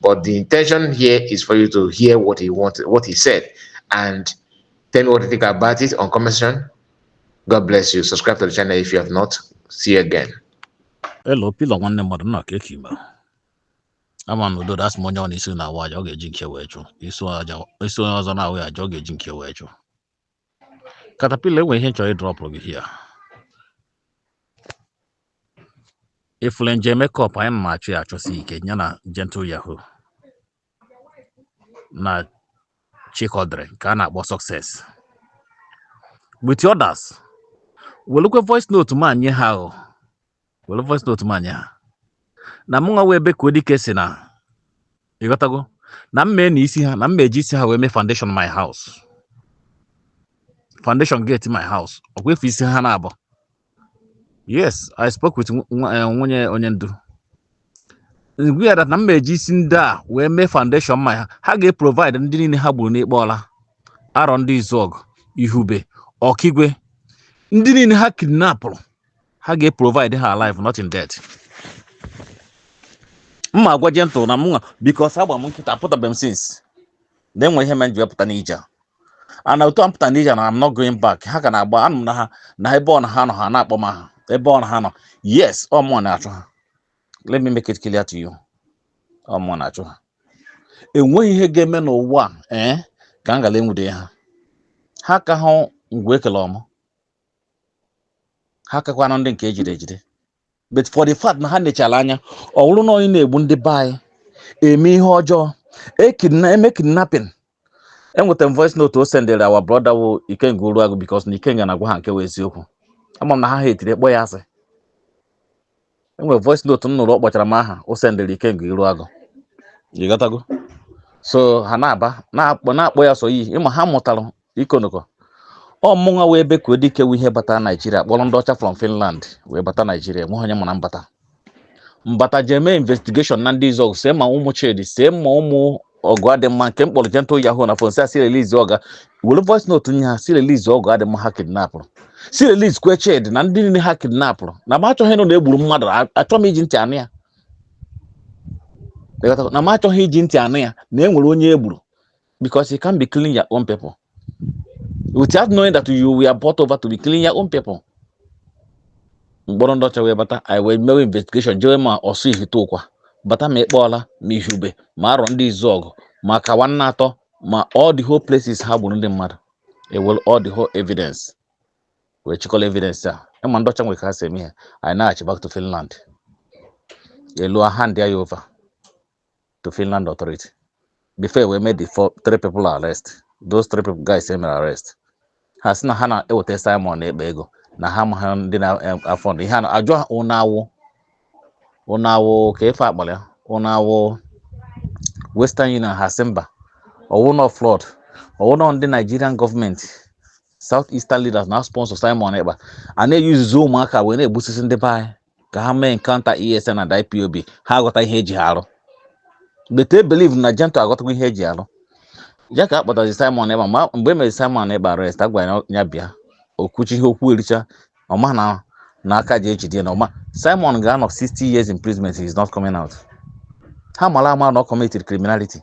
But the intention here is for you to hear what he wanted, what he said, and tell me what you think about it on comment section. God bless you. Subscribe to the channel if you have not. See you again. Hello, Pila nwanne mmadụ, nna kee ka ị me. ama m na udo dị asị m onye ọ na isi na-awa aja ọ ga-eji nke wee chụ isi onye ọzọ na-awa ya aja ọ ga-eji nke wee chụ Caterpillar enwere ihe m chọrọ ịdrọpụrụ gị here ị fụlụ Angel Makeup anyị na-achọ ya achọsi ike ya na gentle yahoo na chikọdịrị nke a na-akpọ success with others welukwe voice note m a nye ha o were voice note m a nye ha na mụ nwa wụ Ebekuo Dike si na ịghọtago na m mee na isi ha na m eji isi ha wee mee foundation my house foundation gate my house ọkwa efu isi ha na-abụ yes i spoke with eh, nwunye onye ndu m gwa ya na m eji isi ndị a wee mee foundation my ha ga-eprovide ndị niile ha gburu n'Ịkpa Ọla Arọndịzuọgụ ihube ọkigwe ndị niile ha kidnapụrụ ha ga-eprovide ha alive not in death m ma agwa gentle na mụnwa because agba m nkịtị apụtabeghị m since na enwe ihe mere m ji wee pụta n'ije a. and otu a m pụta n'ije na I'm not going back ha ka na-agba anụ m na ha na ebe ọ na ha nọ ha na-akpọ m aha ebe ọ na ha nọ yes ọ mụwa na-achụ ha let me make it clear to you ọ mụwa na-achụ ha enweghị ihe ga-eme n'ụwa a, ee ka m ghara enwude ha ha ka hụ ngwu ekele ọmụ ha kakwanụ ndị nke ejide ejide but for the fact na ha nechara anya ọ bụrụ na onye na-egbu ndị be anyị eme ihe ọjọọ ekidna eme kidnapping enwetara m voice note o sendere our brother wụ ikenga uruagụ because na ikenga na-agwa ha nke wụ eziokwu ama m na ha ha etiri kpọ ya asị enwere voice note m nụrụ ọ kpọchara m aha o sendere ikenga uruagụ ịghọtago so ha na-aba na-akpọ na-akpọ ya sọ iyi ịma ha mụtara ịkọ ọnụ akọ ọ mụnwa wụ Ebekuo Dike wụ ihe bata naijiria kpọrọ ndị ọcha from finland wee bata naijiria enweghị onye mara na m bata m bata jee mee investigation na Ndịzuọgụ see ma ụmụ chidi see ma ụmụ ọgụ adị mma nke m kpọrọ gentle yahoo na phone sị ya sị release ọga were voice note nye ha sị release ọgụ adị mma ha kidnapụrụ sị releasekwe Chidi na ndị niile ha kidnapụrụ na m achọghị ịnụ na egburu mmadụ a- achọ m iji ntị anụ ya Ịghọtago? na m achọghị iji ntị anụ ya na e nwere onye egburu because you can be killing your own people without knowing that you were bought over to be killing your own people m kpọrọ ndị ọcha wee bata anyị wee mewe investigation jewe ma ọsụ ihite ụkwa bata ma Ịkpa Ọla ma ihube ma Arọndịzuọgụ ma kawa nna atọ ma all the whole places ha gburu ndị mmadụ ewere all the whole evidence wee chịkọrọ evidence a ịma ndị ọcha nwere ka ha si eme ihe anyị naghachi back to Finland elu ahandịa ya over to Finland authority before we made the four, three people arrest those three people guys e mere arrest ha sị na ha na-eweta Simon Ekpa ego na ha amaghị ndị na-afund ihe a a jụọ ha ụnụ awụ ụnụ awụ ka ife a kpọrọ ya ụnụ awụ Western Union ha sị mba ọ wụnụ fraud ọ wụnụ ndị Nigerian gọọmenti South Eastern leaders na sponsor Simon Ekpa a na-eyuzuzi ụmụaka wee na-egbusisi ndị be anyị ka ha mee encounter ESN and IPOB ha aghọta ihe e ji ha arụ but I believe na Gentle aghọtago ihe e ji arụ ya ka a kpọtazi Simon Ekpa ma mgbe e mere Simon Ekpa arrest a gwara ya ya bịa okwuchi ihe okwu ericha ọ ma na na aka ji ejide ya na ọ ma Simon ga-anọ 60 years imprisonment he is not coming out ha mara ama na ọ committed criminality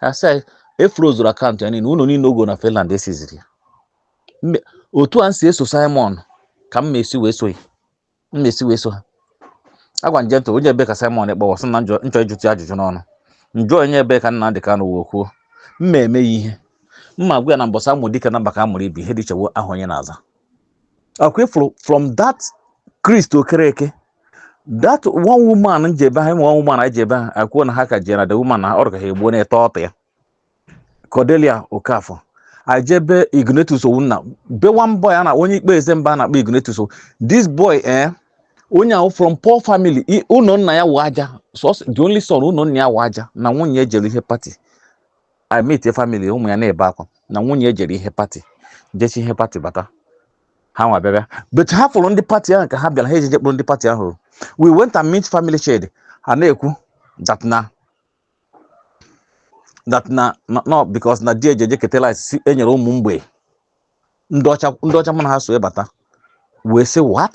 a sị anyị efrozuru akaụntụ ya niile ụlọ niile ọ gọ na Finland esiziri ya Mme- otu a m si eso Simon ka m na-esi wee so ya m na-esi wee so ha a gwa Gentle onye ebe ka Simon Ekpa wụ a sị na m jọ- m chọ ịjụtụ ya ajụjụ n'ọnụ m jụọ onye ebe ka Nnamdị Kanụ wee kwuo m ma-eme ya ihe m ma-agwa ya na mbọsị a mụ dike na mba ka a mụrụ ibe ya ihe dị iche wụ aha onye na-aza ọ kwa ị fụrụ from that Chris Okereke that one woman m jee be ha I mean one woman anyị jee be ha akwuo na ha ka jere na the woman na ọrụ ka ha egbuo na-ete ọtụ ya Cordelia Okafor anyị jee be Ignatius Owunna be one boy a na onye ikpe eze mba a na-akpọ Ignatius Ow- this boy eh onye ahụ from poor family i- ụlọ nna ya wụ aja so the only son ụlọ nna ya wụ aja na nwunye ya jere ihe pati I meet a family ụmụ ya na-ebe akwa na nwunye ya jere ihe pati jechaa ihe pati bata hanwa bịa bịa but ha fụrụ ndị pati ahụ ka ha bịara ha ejeje kpụrụ ndị pati ahụ we went and meet family shade ha na-ekwu that na that na na- no because na di ejeje ketela si enyere ụmụ mgbei ndị ọcha ndị ọcha mụ na ha so ebata wee sị what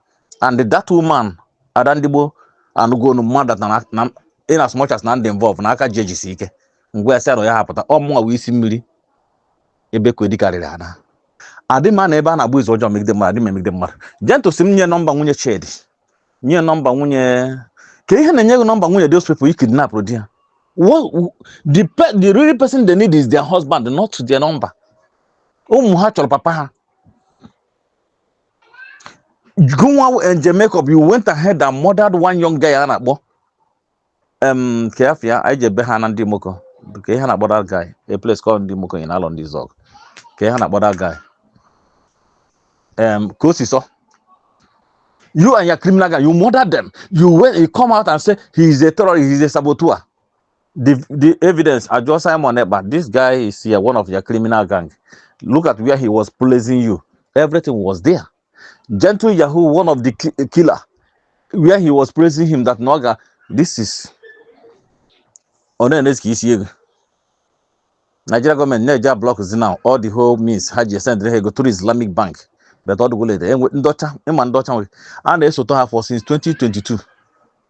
and that woman ada ndigbo anụgonu mmadụ na na in as much as na ndị involve na aka ji ejisi ike ngwa esi arọ ya hapụta ọ mụnwa wụ isi mmiri ebe kwedi karịrị ana adị m anọ ebe a na-agba izu ọjọọ megide mmadụ adị m emegide mmadụ Gentle sị m nye nọmba nwunye chidi nye nọmba nwunye ka ihe na-enye gị nọmba nwunye those people you kidnap di ya What, the, pe- the real person they need is their husband not their number ụmụ ha chọrọ papa ha gụnwa eh, Angel Makeup you went ahead and murdered one young guy a na-akpọ em ka ya fịa anyị jee be ha na Ndimoko ka ihe na-akpọ that guy a place called Ndimoko in Arondizuogu ka ihe na-akpọ that guy em Kosiso you and your criminal guy you murdered them you went you come out and say he is a terrorist he is a saboteur the the evidence ajụọ simon ekpa this guy is yeah, one of your criminal gang look at where he was praising you everything was there gentle yahoo one of the ki- killer where he was praising him that noga this is ọ na-enes ka isi ego nigeria gọọmenti na-eji ablọk zi now all the whole means ha ji esendịrị ha ego through islamic bank but ọ dịgwụlede enwe ndị ọcha ị ma ndị ọcha nwere a na-esote ha for since 2022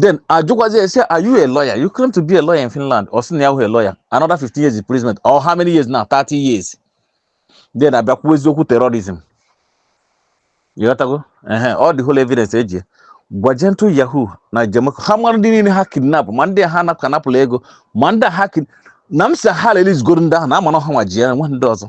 then ajụkwazi ya sị are you a lawyer you claim to be a lawyer in Finland ọ sị na ya wụ a lawyer another 15 years imprisonment or how many years now 30 years then a bịa kwuwezie okwu terrorism ị ghọtago. Uh-huh. all the whole evidence eji eh, gwa gentle yahoo na jamaica ha mara ndị niile ha kidnap ma ndị ha napụka napụla ego ma ndị ha na m si ha releasegoro ndị ahụ na a ma na ọ ha nwa ji ya nwe ndị ọzọ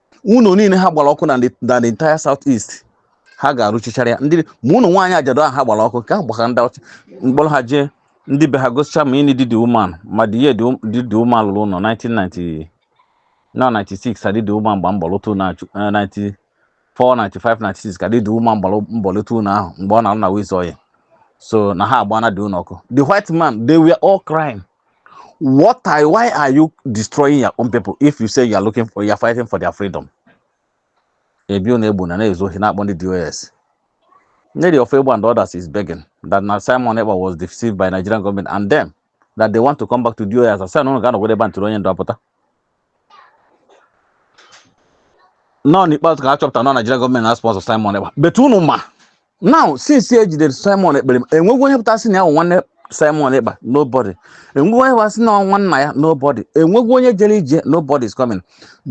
ụlọ niile ha gbara ọkụ na the- na the entire south east ha ga-arụchichara ya ndị ma ụlọ nwaanyị ajadu ahụ ha gbara ọkụ ka ha gbakara ndị ọcha m kpọrọ ha jee ndị be ha gosicha ma ini di the woman ma the year di the woman lụrụ ụlọ 1990 na 96 ka di the woman gba mbọ lụta ụlọ ahụ eh, 94 95 96 ka di the woman gbara mbọ lụta ụlọ ahụ mgbe ọ na-alụ na wiz oyi so na ha agbana the ụlọ ọkụ the white man they were all crying What are why are you destroying your own people if you say you are looking for you are fighting for their freedom? Ebe ọ na-egbu na na-ezu ohi na-akpọ ndị DOS. Nelly Ofoegbu and others is begging that na Simon Ekpa was deceived by Nigerian government and them that they want to come back to DOS. A sị na ụnụ ga-anọgide ebe a until onye ndu apụta. nọ n'ikpeazụ ka a chọpụta na Naijiria gọọmenti na-sponsọ Simon Ekpa but unu ma now since e jidere Simon Ekpa enweghi onye pụta sị na ya bụ nwanne Simon Ekpa nobody enweghi onye pụta sị na ọ nwanna ya nobody enweghi onye jere ije nobody is coming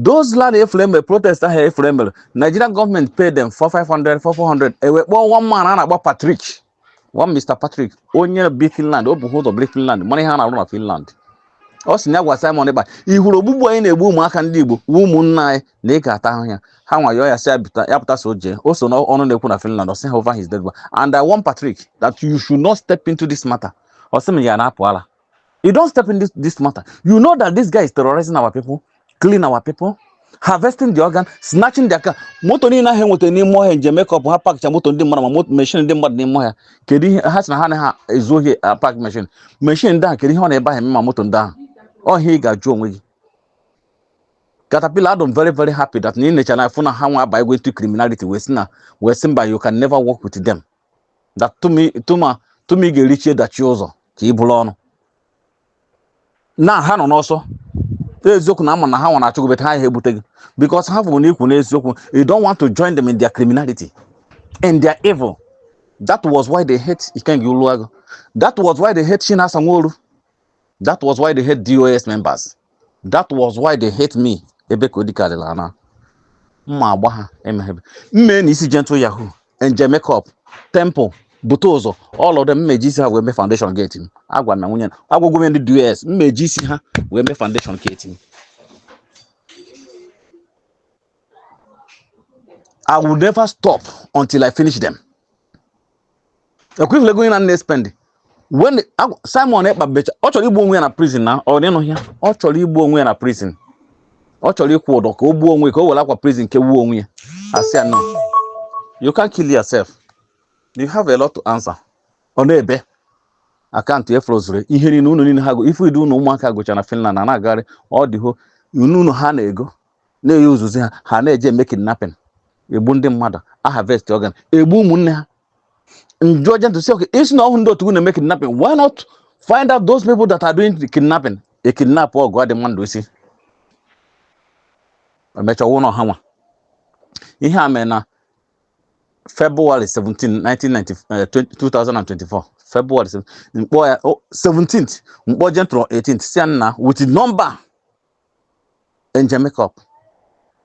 those land efere mere protest ahụ efere mere Nigerian gọọmenti paid them for 500 for 400 e nwekwa one man a na-akpọ Patrick one Mr. Patrick onye bi Finland o bu ha ụzọ biri Finland mara ihe a na-arụ na Finland ọ sị na ya gwa Simon Ekpa ị hụrụ ogbugbu a ị na-egbu ụmụaka ndị Igbo wụ ụmụnna anyị na ị ga-ata ahụhụ ya ha nwa yọọ ya sị ya bịta- ya pụta so jee o so n'ọnụ na-ekwu na Finland ọ sị ha over his dead body and I warn Patrick that you should not step into this matter ọ sị m ya na-apụ ala You don't step in this, this matter. You know that this guy is terrorizing our people, killing our people, harvesting the organ, snatching their car. Moto niile ahụ e nweta n'ime ọhịa njem mekọp ha pakcha moto ndị mmadụ ma moto meshin ndị mmadụ n'ime ọhịa kedu ihe ha si na ha anaha ezu ohi pak meshin meshin ndị ahụ kedu ihe ọ nọ ebe ahụ eme ma moto ndị ahụ ọhịa ị ga-ajụ onwe gị Caterpillar adị m very very happy that na ị necha na fụ na ha nwa abago into criminality wee sị na wee sị mba you can never work with them that tụma ị ga-erichie dachie ụzọ ka ị buru ọnụ na ha nọ n'ọsọ eziokwu na a ma na ha nwara achụgụ bet ha ihe ebute gị because ha fụrụ na ị kwụ n'eziokwu you don't want to join them in their criminality in their evil that was why they hate Ikenga Uruagu that was why they hate Chinasa Nworu that was why they hate dos members that was why they hate me ebe ka ọ dịkarịla na m ma-agba ha mmee na isi gentle yahoo angel makeup temple butuzo all of them m me-eji isi ha wee mee foundation gate m agwa m na nwunye na- agwagwo m ndị dos m me-eji isi ha wee mee foundation gate m I will never stop until I finish them. Ekwifule going na nne spend. When Simon Ekpa becha, ọ chọrọ igbu onwe ya na prison na ọ dịnụ ya. Ọ chọrọ igbu onwe ya na prison. Ọ chọrọ ịkwụ ụdọ ka o gbuo onwe ka o were akwa prison kegbuo onwe ya. A sị ya no. You can't kill yourself. You have a lot to answer. Ọ na-ebe akaụntụ ya frozuru ihe niile ụnọ niile ha go ife idu unu ụmụaka gocha na Finland na na-agagharị all the whole ụnọ ụnọ ha na-ego na-eyi ozuzi ha ha na-eje eme kidnapping egbu ndị mmadụ a harvest organ egbu ụmụnne ha ndị ọjọọ ntụsi okay ị sị na ọ wụhụ ndị otu na-eme kidnapping why not find out those people that are doing the kidnapping e kidnapụgodị mmadụ ị sị e mechaa ọnwụ na ọha nwa ihe a mere na February 17, 1990, uh, 2024. February 17, m kpọọ ya oh, 17th, m kpọọ Gentle 18th, sị ya nna wete number angel makeup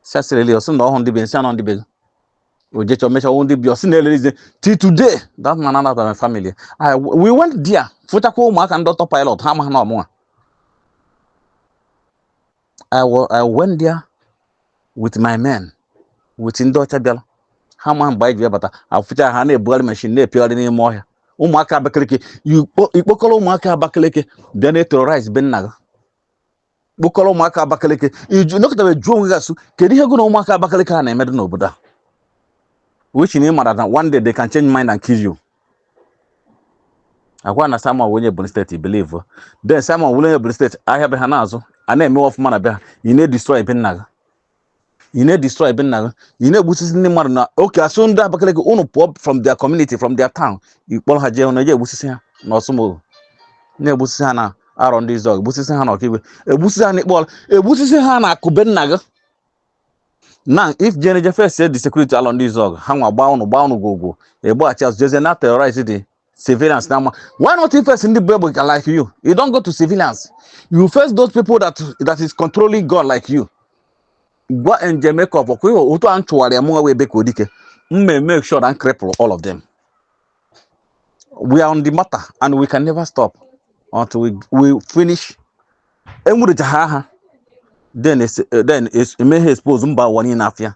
sasịrịlị ọ sị na ọ wụhụ ndị be m sị ya na ọ ndị be gị o jechaa o mechaa ọ wụ ndị be ọ sị na-erelease till today that man and my family I, we went there fụchakwa ụmụaka ndị autopilot ha amaghị na ọ mụnwa I, wa- I went there with my men with ndị ọcha bịara ha ma mgbe anyị ji bịa bata afụcha ha na-ebugharị mashin na-epiogharị n'ime ọhịa ụmụaka abakaliki i kpo- i kpokọrọ ụmụaka abakaliki bịa na-eterorize be nna gị kpokọrọ ụmụaka Abakaliki ị nọkatabe jụọ onwe gị asụ kedu ihe gụ na ụmụaka Abakaliki ha na-emedo n'obodo a which na ị mara na one day they can change mind and kill you a gwa na Simon wụ onye Ebonyi steeti i believe then Simon wụrụ onye Ebonyi steeti ahịa be ha na-azụ a na-eme ọfụma na be ha ị na-edestroy be nna gị ị na-edestroy be nna gị ị na-egbusisi ndị mmadụ na okay asụ ndị Abakaliki unu pụọ from their community from their town ị kpọrọ ha jee na-eje egbusisi ha na Ọsụmoghu na-egbusisi ha na Arọndịzuọgụ egbusisi ha na Okigwe egbusisi ha na ịkpọrọ egbusisi ha na Akụ be nna gị na if jeneje face the security Alọndịzuọgụ ha nwa gbaa unu gbaa unu gwogwo agbaghachi azụ jezie na-eterrorize the civilians now. Why not invest in the people like you? You don't go to civilians. You face those people that that is controlling God like you. Go and make up. Okay, otu a nchụwarị ya mụnwa wee be ka odike. M may make sure and cripple all of them. We are on the matter and we can never stop until we, we finish. Enwurecha ha ha. Then it's, then it's, emeghe expose mba ụwa niile n'afịa.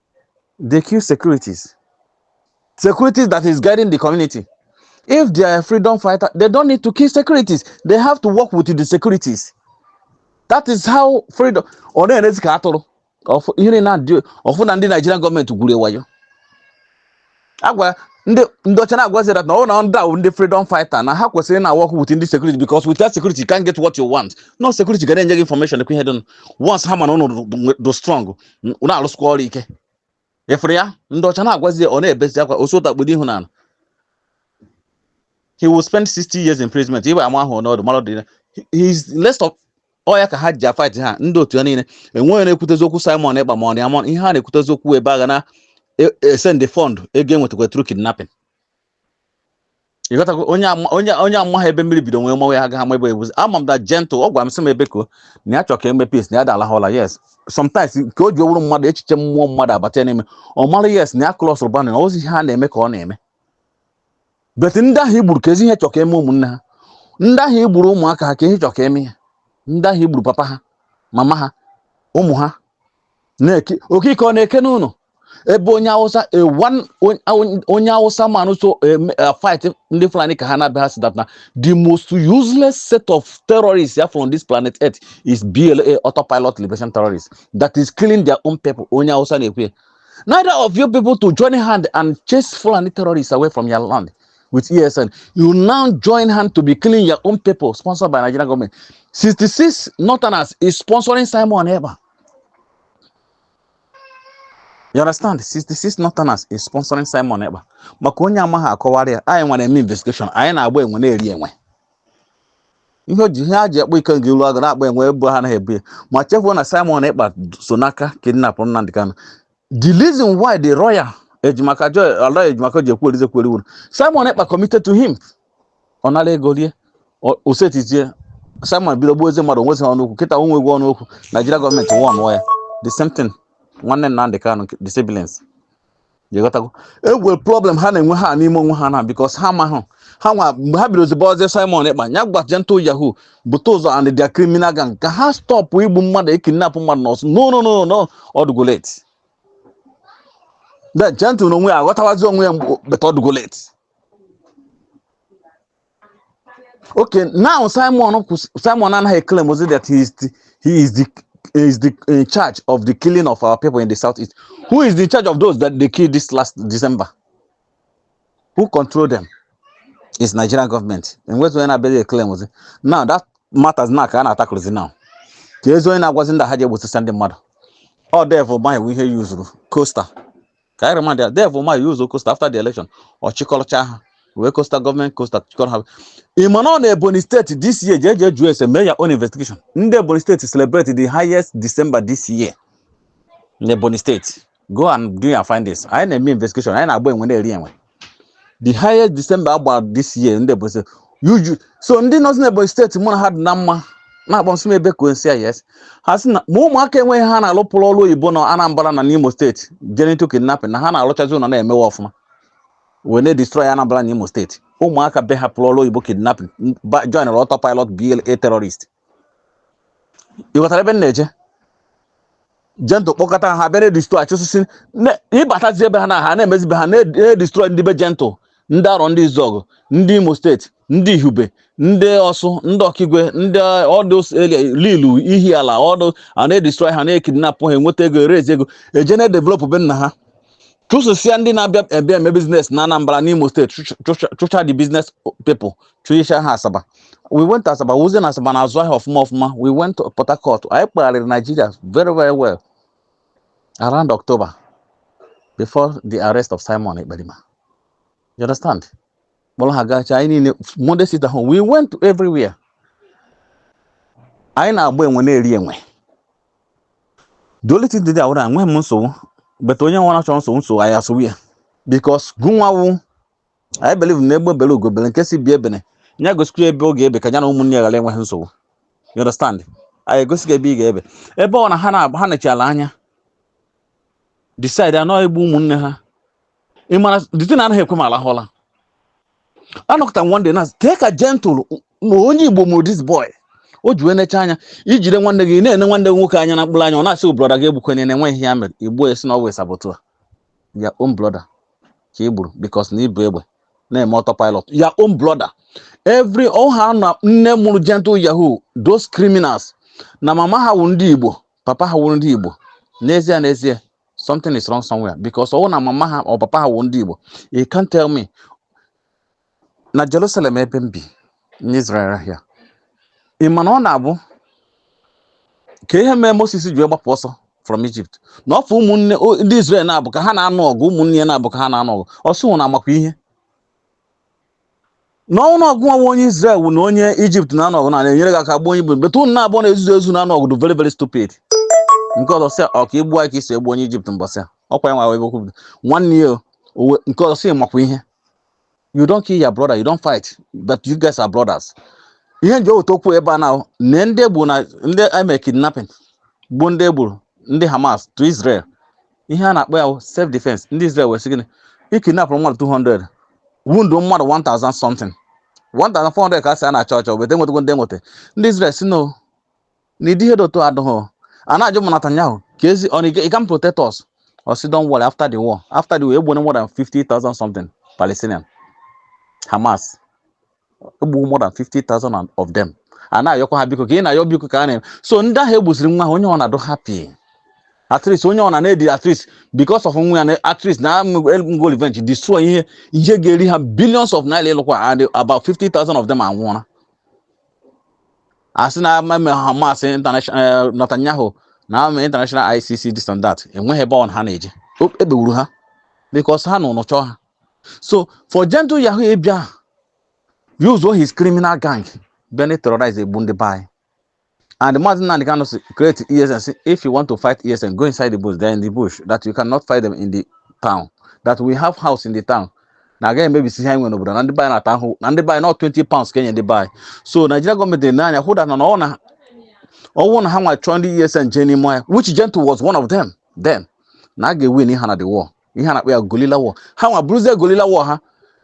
they kill securities. Securities that is guiding the community. If they are freedom fighter, they don't need to kill securities. They have to work with the securities. That is how freedom. Ọ na-enezi ka atụrụ. Ọfụ- Ihe niile na-adị ụfụ na ndị Nigerian gọọmenti gwuru wayo. agwa ndị ndị ọcha na-agwazi that na ọ na ndị ahụ ndị freedom fighter na ha kwesịrị na-awork with ndị security because without security you can't get what you want na ọ security ga na-enye gị information ekwe ihe dị nụ. once ha ma na ụnụ dị- dị- dị strong n- ụnụ arụsịkwa ọrụ ike efere ya ndị ọcha na-agwazi ya ọ na-ebezi akwa osota kpudo ihu n'ala he will spend 60 years imprisonment iwe ama ahụ n'ọdụ mara dị he is less of ọ ya ka ha ji afaịtị ha ndị otu ya niile enweghị na-ekwutezi okwu Simon Ekpa ma ọ ya ma ihe ha na-ekwutezi okwu ebe a ga na-esend fund ego e nwetakwa through kidnapping ịghọtago onye ama- onye onye amaha ebe mmiri bido wee maba ya agaghị ama ebe ebuzi ama m that Gentle ọ gwara m sị m ebe ka o- na ya chọrọ ka e mee peace na ya dala ha ụla yes sometimes nke o ji owuru mmadụ echiche mmụọ mmadụ abata ya n'ime ọ mara yes na ya klọsụrụ banụ ọ ozi ihe ha na-eme ka ọ na-eme but ndị ahụ i gburu kezi ihe ị chọ ka e mee ụmụnne ha ndị ahụ i gburu ụmụaka ha kee ihe ị chọ ka e mee ya ndị ahụ i gburu papa ha mama ha ụmụ ha na-eke okike ọ na-eke n'ụlọ ebe onye awụsa a one on- on- onye awụsa man so em- eh, fight ndị fulani ka ha na-abịa ha sị that na the most useless set of terrorists ya from this planet earth is BLA autopilot liberation terrorists that is killing their own people onye awụsa na-ekwu ya Neither of you people to join hand and chase Fulani terrorists away from your land with ESN. You now join hand to be killing your own people sponsored by Nigerian government. 66 Northerners is sponsoring Simon Ever. You understand? 66 Northerners is sponsoring Simon Ever. Maka onye amaghị akọwarị ya, anyị nwere eme investigation, anyị na-agba enwe na-eri enwe. ihe o ji ihe a ji akpọ ike nke ilu agụ na-akpọ enwe ebu ha anaghị ebu ya ma chefuo na Simon Ekpa so n'aka kidnapụrụ Nnamdi Kanu the reason why the lawyer Ejimakor joy Aloy Ejimakor ji ekwu erize kwere wuru Simon Ekpa committed to him ọ nara ego rie o- o setizie Simon bido gbuwezie mmadụ o nwezi ọnụ okwu kịta o nweghị ọnụ okwu Nigeria gọọmenti wụọ ọnụọ ya the same thing nwanne Nnamdi Kanu the siblings ịghọtago e nwere problem ha na-enwe ha n'ime onwe ha na because ha amaghị ha nwa mgbe ha bidoro ziba ozi simon ekpa ya gwa gentle yahoo butuzo and their criminal gang ka ha stọpụ igbu mmadụ ekidnapụ mmadụ n'ọsụ no no no no ọ dụgo late that gentle na onwe ya aghọtawazi onwe ya but ọ dụgo late Okay, now Simon kwụs- Simon anaghị eclaimụzi that he is the, he is the he is the in charge of the killing of our people in the southeast. Who is in charge of those that they killed this last December? Who control them? It's Nigerian government. E nwezi onye na-abịa eclaimụzi? Now that matters now ka a na-atakụrụ ozi now. Kezi onye na-agwazi ndị ha ji egbusi ndị mmadụ. Ọ Devil Umahi we hear use coaster. ka anyị remind ya devil umahi use coaster after the election ọ chịkọrọcha ha were coaster gọọmenti coaster chịkọrọ ha ị ma na ọ na ebonyi steeti this year jee jee jụọ ese mee ya own investigation ndị ebonyi steeti celebrate the highest december this year na ebonyi steeti go and do your findings anyị na-eme investigation anyị na-agba enwe na-eri enwe the highest December a gba this year ndị Ebonyi steeti uju so ndị nọzi na Ebonyi steeti mụ na ha dị na mma na-akpọ m sị m ebe ka onsi yes ha sị na ma ụmụaka enweghị ha na-alụpụrụ ọrụ oyibo na Anambra na n'Imo steeti je into kidnapping na ha na-alụchazi ụlọ na-emewe ọfụma wee na-edestroy Anambra na Imo steeti ụmụaka be ha pụrụ ọrụ oyibo kidnapping ba- joinụrụ autopilot BLA terrorist ịghọtara ebe m na-eje gentle kpọkọta ha bịa na-edestroy achụsisi ịbatazi ebe ha na ha na-emezi be ha na-edestroy ndị be gentle ndị arọndizuọgụ ndị imo steeti ndị ihube ndị ọsụ ndị ọkigwe ndị ọdụ lilu ihiala ọdụ a na-edestroy ha na-ekidnapụ ha enweta ego ewerezi ego eje na-edevelopụ be nna ha chụsịsịa ndị na-abịa abịa eme business na Anambra n'Imo steeti chụcha the business people chụicha ha Asaba we went to Asaba fụzie na Asaba na-azụ ahịa ọfụma ọfụma we went to Port Harcourt anyị kpagharịrị Nigeria very very well around October before the arrest of Simon Ekperima you understand kpọrọ ha gacha anyị niile Monday sit at home we went to everywhere anyị na-agba enwe na-eri enwe the only thing dị there wụrụ enweghị m nsogbu but onye ọwụna chọrọ nsogbu nsogbu anyị asogbu ya because gụnwawu anyị believe na egbe belu ugo belu nke sị ibe ya ebene ya gosikwa ya ebe ọ ga-ebe ka ya na ụmụnne ya ghara inwe nsogbu you understand anyị egosi gị ebe ị ga-ebe ebe ọ na ha nechara anya decide anọ egbu ụmụnne ha ị mara the thing anaghị ekwe m alahụ ụla anọkọta m one day na-eche ka gentle na onye igbo mụrụ this boy o ji wee necha anya ijide nwanne gị ị na-ene nwanne gị nwoke anya na mkpụrụ anya ọ na-asị gị brother gị egbukwana ya na enweghị ihe ya mere i gbuo ị sị na ọ wụ saboteur your own brother ka i gburu because na ibu egbe na-eme autopilot your own brother m believeghị na nne mụrụ gentle yahoo those criminals na mama ha wụ ndị igbo papa ha wụrụ ndị igbo n'ezie n'ezie something is wrong somewhere because ọwụ na mama ha or papa ha wụ ndị Igbo you can't tell me na Jerusalem ebe m bi n'Israel here ị ma na ọ na-abụ ka ihe mee Moses ji wee gbapụ ọsọ from Egypt na ọ fụ ụmụnne o- ndị Israel naabọ ka ha na-anụ ọgụ ụmụnne ya naabọ ka ha na-anụ ọgụ ọ sị unu amakwa ihe na ọ wụ na ọ gịnwa bụ onye Israel unu na onye Egypt na-anụ ọgụ m na-enyere gị aka gbuo onye Egypt but unu naabọ na-ezuzu ezu na-anụ ọgụ dị very very stupid nke ọzọ sị ọ ka i gbuo anyị ka i si egbu onye Egypt mbọsị a ọkwa ya nwa ebe okwu bido nwanne ya owe nke ọzọ sị makwa ihe you don't kill your brother you don't fight but you guys are brothers ihe m ji eweta okwu ebe a na na ndị egbu na ndị eme kidnapping bụ ndị e gburu ndị Hamas to Israel ihe a na-akpọ ya bụ self defense ndị Israel wee sị gịnị e kidnapụrụ mmadụ 200 wound mmadụ 1000 something 1400 ka a sị a na-achọ achọ weta enwetago ndị enweta ndị Israel si no na ụdị ihe dị otu a adịghị a na-ajụ ma Netanyahu ka ezi ọ na ị can protect us ọ sị don't worry after the war after the war egbuone more than 50,000 something Palestinian Hamas egbuwo more than 50,000 and- of them a na-ayọkwa ha biko ka ị na-ayọ biko ka a na-eme so ndị ahụ egbuziri nwa ha onye ọ na-adị happy at least onye ọ na na-edi at least because of nwa ya na at least na emego revenge destroy ihe ihe ga-eri ha billions of naira ịlụkwa and about 50,000 of them anwụọla asị na ama eme Hamas international eh, Netanyahu na ama international ICC this and that enweghị ebe ọ na ha na-eje O- ebegburu ha because ha nọ na-achọ ha So for Gentle Yahoo abịa use all his criminal gang bịa na terrorize egbu ndị be anyị and Mazi Nnamdi Kanu si create ESN say if you want to fight ESN go inside the bush they are in the bush that you cannot fight them in the town that we have house in the town na agaghị emebisi ihe anyị nwere n'obodo na ndị be anyị na-ata ahụhụ na ndị be anyị na ọ 20 pounds ka enye ndị be anyị so Nigeria gọọmenti na-ene anya hụ that na ọ na ọ wụ na ha nwa chọọ ndị ESN jee n'ime ọhịa which Gentle was one of them then na a ga-ewin ha na the war ihe a na-akpọ ya guerrilla war ha nwa bụrụzie guerrilla war ha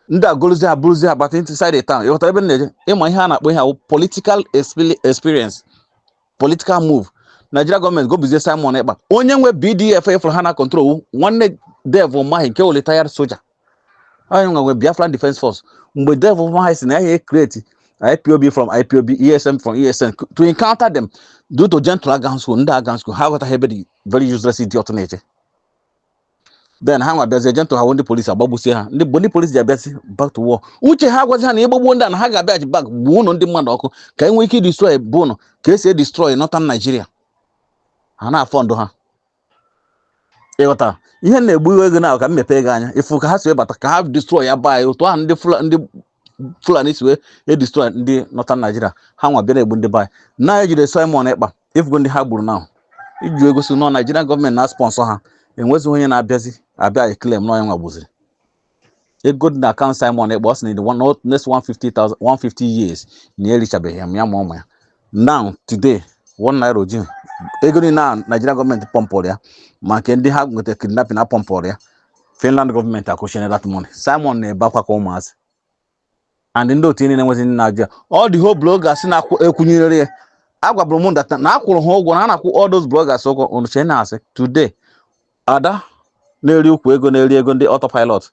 ndị a gorozie ha buruzie ha bata inside the town ịghọtara ebe m na-eje ịma ihe a na-akpọ ihe a wụ political expe- experience political move Nigeria gọọmenti gobizie Simon Ekpa onye nwe BDF ị fụrụ ha na control wụ nwanne Dave Umahi nke wụ retired soja onye nwe nwe Biafran Defence Force mgbe Dave Umahi sị na ya create IPOB from IPOB ESN from ESN to encounter them due to Gentle agaghị school ndị agaghị school ha aghọtaghị ebe the very useless idiot na-eje then ha nwa bịazie Gentle ha ndị polisi agbagbusie ha ndị mgbe ndị polisi ji abịazi back to war uche ha agwazi ha na ịgbagbuo ndị a na ha ga-abịaghachi back gbuo ụlọ ndị mmadụ ọkụ ka e nwee ike idestroy bụ ụlọ ka esi edestroy northern Nigeria ha na-afọ ndụ ha ịghọtara ihe na-egbu ego na ka m mepee gị anya ịfụ ka ha si ebata ka ha destroy ya baa ya otu ahụ ndị Fulani Fulani si wee edestroy ndị northern Nigeria ha nwa bịa na-egbu ndị be anyị na ejide Simon Ekpa ịfụgo ndị ha gburu now iji egosi na ọ Nigerian gọọmenti na-esponsor ha enwezighị onye na-abịazi abịa eclaim na ọ nya nwa gbuziri ego dị na account Simon Ekpa ọ sị na in the one- next 150,000 150 years na ya erichabeghị ya ma ụmụ ya now today one naira o jighi ego niile a Nigeria gọọmenti pọmpụrụ ya ma nke ndị ha nweta kidnapping a pọmpụrụ ya Finland gọọmenti akwụchina that money Simon na-ebe akwa ka ụmụazị and ndị otu niile enwezi ndị na-ajụ ya all the whole bloggers na-ekwunyere ya agwaburu m that na akwụrụ ha ụgwọ na a na-akwụ all those bloggers ụgwọ unu ncha na-asị today ada na-eri ukwu ego na-eri ego ndị autopilot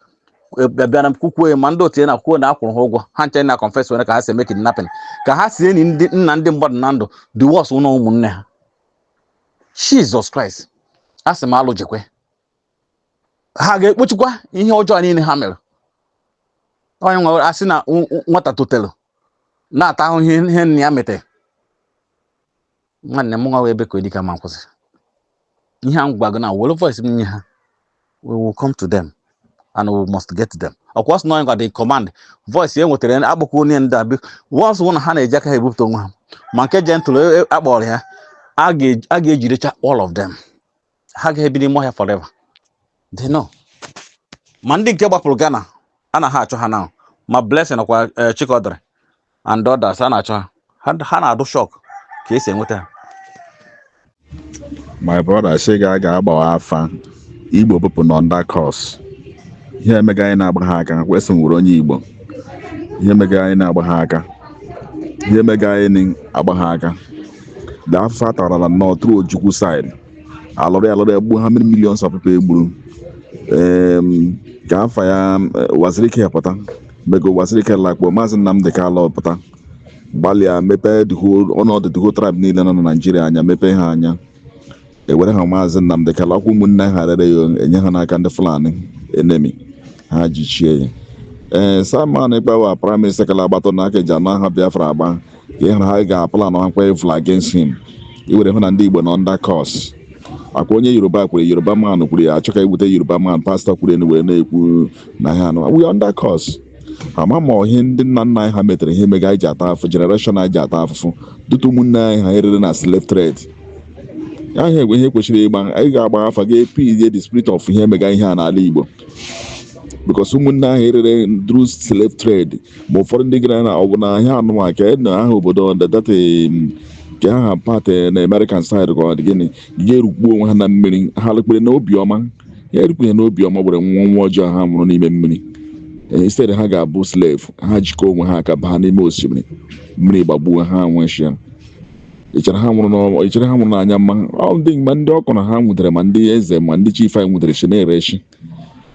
e, bịara m kwukwuo ma ndị otu ya na kwuo na akwụrụ ha ụgwọ ha ncha na confess were ka ha si eme kidnapping ka ha si eni ndị nna ndị mmadụ na ndụ the worst wụ na ọ ụmụnne ha Jesus Christ a sị m alụ jekwe ha ga-ekpochikwa ihe ọjọọ niile ha mere onye nwere asị na nwata totere na-ata ahụhụ ihe nna ya metere nwanne m nwa ebe ka edika ma nkwụsị ihe a m gwa gị na were voice m nye ha we will come to them and we must get them of course na onye gwa the command voice e nwetara ya akpọkwa onye ndị abi once wụ na ha na-eji aka ha ebupụta onwe ha ma nke gentle e- e- akpọrọ ya a ga- a ga-ejirecha all of them ha agaghị ebi n'ime ọhịa forever they know ma ndị nke gbapụrụ Ghana a na ha achọ ha now ma Blessing nakwa eh, Chikodere and others a na-achọ ha Ha- ha na-adụ shock ka esi enweta ha my brother sị ga a gaa gbawa afa igbo people nọ under curse ihe emega anyị na agbagha aka kwesị nwere onye igbo ihe emega anyị na agbagha aka ihe emega anyị na agbagha aka the afụfụ a tara na nnọọ through ojukwu side alụrụ ya alụrụ ya gbuo ha mmiri milion sọpụpa egburu Em, ka afa ya eh, uwazuruike pụta mego uwazuruike lakpuo maazị nnamdị kalụ pụta gbalịa mepee the whole- ọnọdụ the whole tribe niile nọ na naijiria anya mepee ha anya ewere ha maazị Nnamdị Kanu ọkwa ụmụnne ha rere ya enye ha n'aka ndị Fulani enemy ha jichie ya ee Simon Ekpa our prime minister kala agbatụ na aka eji anụ aha Biafra agba ka ịhụrụ ha ga-aplanakwa evil against him ị were hụ na ndị Igbo nọ under curse ọkwa onye Yoruba kwuru Yoruba man kwuru ya achọ ka iwute Yoruba man pastor kwụrụ enu wee na-ekwu na ha nọ we under curse ama ma ọ ihe ndị nna nna anyị ha metere ihe mega anyị ji ata afụ generation anyị ji ata afụfụ due to ụmụnne anyị ha erere na slave trade ya ihe egwe ihe kwesịrị ịgba anyị ga-agba afa ga-appease the spirit of ihe mega ihe a n'ala igbo because ụmụnne ahụ erere through slave trade ma ụfọdụ ndị gara na ọgwụ na ahịa anụnwa ka e na aha obodo data ka aha part na american side ka ọ dị gịnị ya erukpuo onwe ha na mmiri ha lekpere na obiọma ya erukpu ya na obiọma were nwụọ ọnwụ ọjọọ ha nwụrụ n'ime mmiri Ee, instead ha ga-abụ slave ha jikọọ onwe ha aka baa n'ime osimiri mmiri gbagbuo ha nwụchịa i chere ha nwụrụ n'ọnwa i chere ha nwụrụ n'anya mma ọ dị ma ndị okoro ha nwụdere ma ndị eze ma ndị chief anyị nwụderechi na-erechi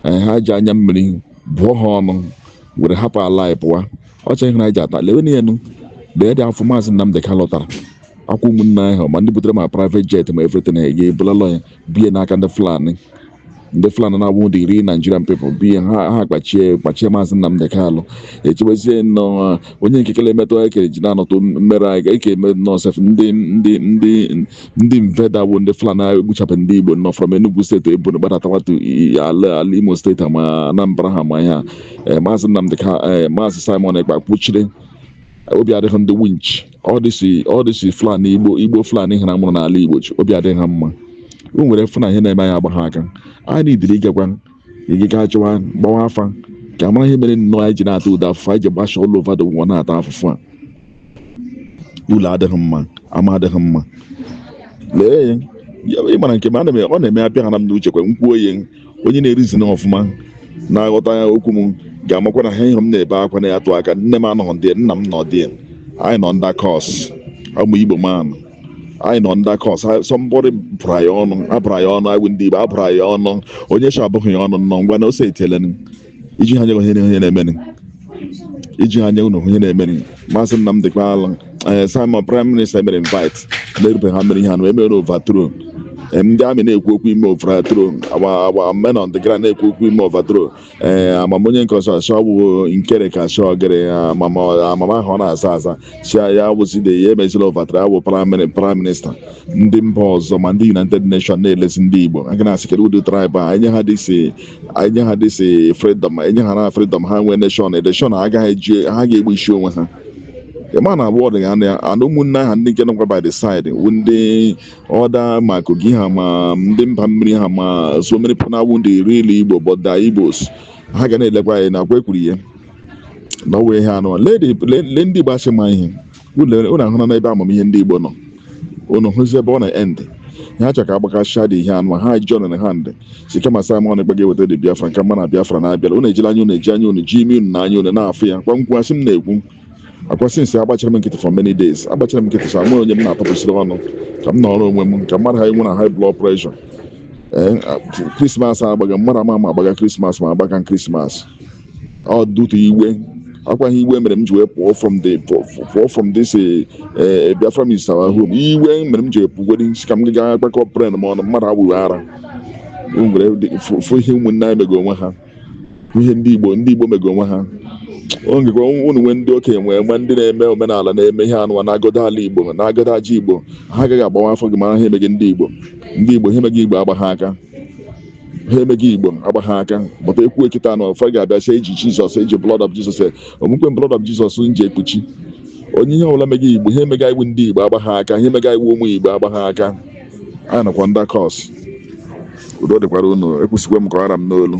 ee, ha ji anya mmiri bụọ ha ọnụ were hapụ ala anyị pụwa ọcha ihe anyị ji ata lewe na enu lee the afụfụ maazị Nnamdị Kalụ tara ọkwa ụmụnne anyị ahụ ma ndị butere ma private jet ma everything ha ga ebulala ya biye n'aka ndị Fulani ndị Fulani na-abụ ndị iro Nigerian people biye ha ha kpachie kpachie maazị Nnamdị Kalụ echewezie nnọọ onye nke kele emetụ ekere ji na-anọtụ mmere anyị ka eke eme nnọọ sef ndị ndị ndị ndị invader bụ ndị fulani aga egbuchapụ ndị igbo nọ from enugu steeti ebonyi gbadatawatụ ala ala imo steeti ha ma anambra ha ma ihe a Eh, maazị nnamdị ka eh, maazị simon ekpa kwụchiri obi adịghị ndị winch all this all this fulani igbo igbo fulani ha a mụrụ n'ala igbo chi obi adịghị ha mma unu were fụ na ihe na-eme anyị agbagha aka anyị needịrị ịgakwa ị- ịga achọwa gbawa afa ka a mara ihe mere nnọọ anyị ji na-ata ụdị afụfụ anyị ji gbasha all over the world na-ata afụfụ a ụlọ adịghị mma ama adịghị mma lee ya ị mara nke m ana m ọ na-eme abịa ha na m n'uche kwa m kwuo ya onye na-ereason ọfụma na-aghọta ya okwu m ga-amakwa na ha ihe m na-ebe akwa na-atụ aka nne m anọghị ndụ nna m nọ dị anyị nọ under curse ụmụ igbo man anyị nọ under curse somebody bụrụ anyị ọnụ a bụrụ anyị ọnụ anyị ndị igbo a bụrụ anyị ọnụ onye chọ abụghị ya ọnụ nnọọ ngwa na ose etelen iji ha nye ihe ihe na-emenụ iji ha nye ụlọ ihe na-emenụ Maazị Nnamdi Kanu ee Simon prime minister mere invite na-erube ha mere ihe anụ emere overthrow Ee, ndị army na-ekwu okwu ime overthrow agba agba men on the ground na-ekwu okwu ime overthrow ee amamonye nke ọzọ asọ bụ nkere ka asọ gere amama amama ahụ ọ na-aza aza si ya wụside ya emezila overthrow awụ prime prime minister ndị mba ọzọ ma ndị United Nations na-elezi ndị Igbo a ga na-asị kedu ụdị tribe a e nye ha dị si e nye ha this freedom e nye ha na freedom ha nwee nation election ha agaghị eji ha ga-egbusi onwe ha ịma na abụọ dị ya na ana ụmụnne ha ndị nke nọkwa by the side wụ ndị other ma kogi ha ma ndị mba mmiri ha ma so many people na-awụ ndị real igbo but the igbos ha ga na-elekwa anyị na akwa ekwuru ihe na ọwa ihe anụ le ndị igbo a sị ma ihe unu ahụna n'ebe amamihe ndị Igbo nọ unu hụzi ebe ọ na-end ha chọrọ ka agbakasịa dị ihe anụ ha ji ọnụnụ ha ndị sị kama Simon Ekpa ga-eweta dị Biafra nke m ma na Biafra na-abịara unu ejila anya unu eji anya unu ji imi unu na anya unu na-afụ ya kwa nkwu asị m na-ekwu akwasị since agbachara m nkịtị for many days agbachara m nkịtị so amụrụ onye m na-atọpụsịrị ọnụ ka m nọrọ onwe m ka mmadụ ha enwe na high blood pressure ee krismas agbaga mmadụ ama ama agbaga krismas ma agbaga krismas ọ dụtụ iwe akwa ihe iwe mere m ji wee pụọ from the pụọ from this eh, eh, Biafra is our home iwe mere m ji wee pụgodi sị ka m gaa kpakọ brain m ọnụ mmadụ abụghị ara O nwere dị- fụ fụ ihe ụmụnne anyị mego onwe ha fụ ihe ndị Igbo ndị Igbo mego onwe ha o ngekwa unu nwee ndị okenye nwee ma ndị na-eme omenala na-eme ihe anụwa na-agọdo ala Igbo na-agọdo aja Igbo ha agaghị agbawa afọ gị mara ha emeghị ndị Igbo ndị Igbo ha emeghị Igbo agba ha aka ha emeghị igbo agba ha aka but ekwu ekita na ụfọ ga-abịa sị eji jesus eji blood of jesus ọ bụkwa blood of jesus nji ekpuchi onye ihe ọbụla meghị igbo ha emega iwu ndị igbo agba ha aka ha emega iwu ụmụ igbo agba ha aka anyị nọkwa under curse udo dịkwara unu ekwusikwa m ka ọ hara m n'olu